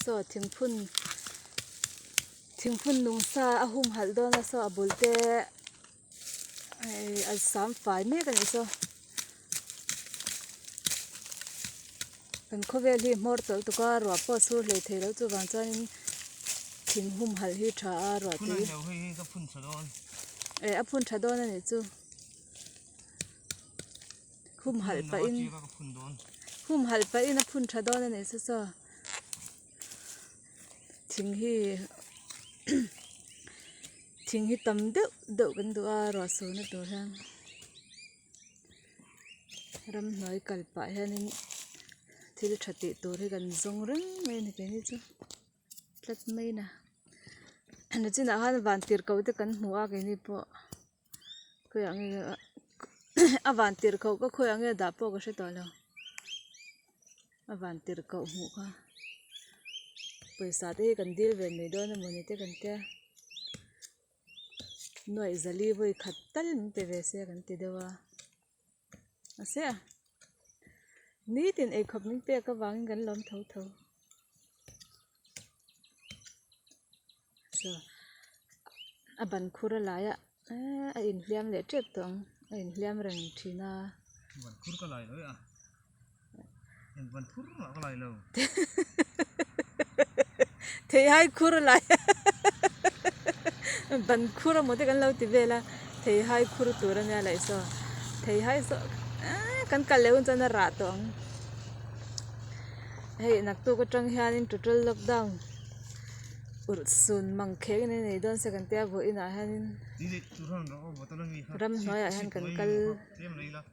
saw thingphun thingphun nung sa a hum halh dawn a saw a bul te ehh a sam fai mek a ni saw kan khawvel hi hmawr tawlh tuk a ruah pawh a sur hlei thei loh chuvang chuanin thing hum halh hi a tha a ruah te hi ehh a phun tha dawn a nih chu. Hum halh pahin, hum halh pahin a phun tha dawn a nih se saw. Thing hi thing hi tam deuh deuh kan duh a ruah sur na tur hian. Ramhnuai kal pah hianin thil tha tih tur hi kan zawng reng mai a ni keh hi chu. Tlat mai in a, a chinah hian van tirhkoh te kan hmu a kei hi pawh. khawiah nge ah a van tirh koh ka khawiah nge dah pawh ka hre tawh lo a van tirh koh hmuh kha pawisa te hi kan dil ve mai dawn a mawni te kan tia nuaih zali vawi khat tal min pe ve se kan ti deuh a. a se a nitin ei khawp mai pek avangin kan la awm tho tho chuan a ban khur a laiah eehh a inhliam leh tep tawh ang a inhliam reng thin a. theihai khur lai hahahaha ban khur emaw te kan lo ti vel a theihai khur tur a nia laih sawn theihai saw eehh kan kal leh hun chuan a rah tawh ang hei naktuk atang hianin total lockdown ur sun mang khek in a nei dawn se kan tia a vuahin ah hianin ramhnuaiah hian kan kal--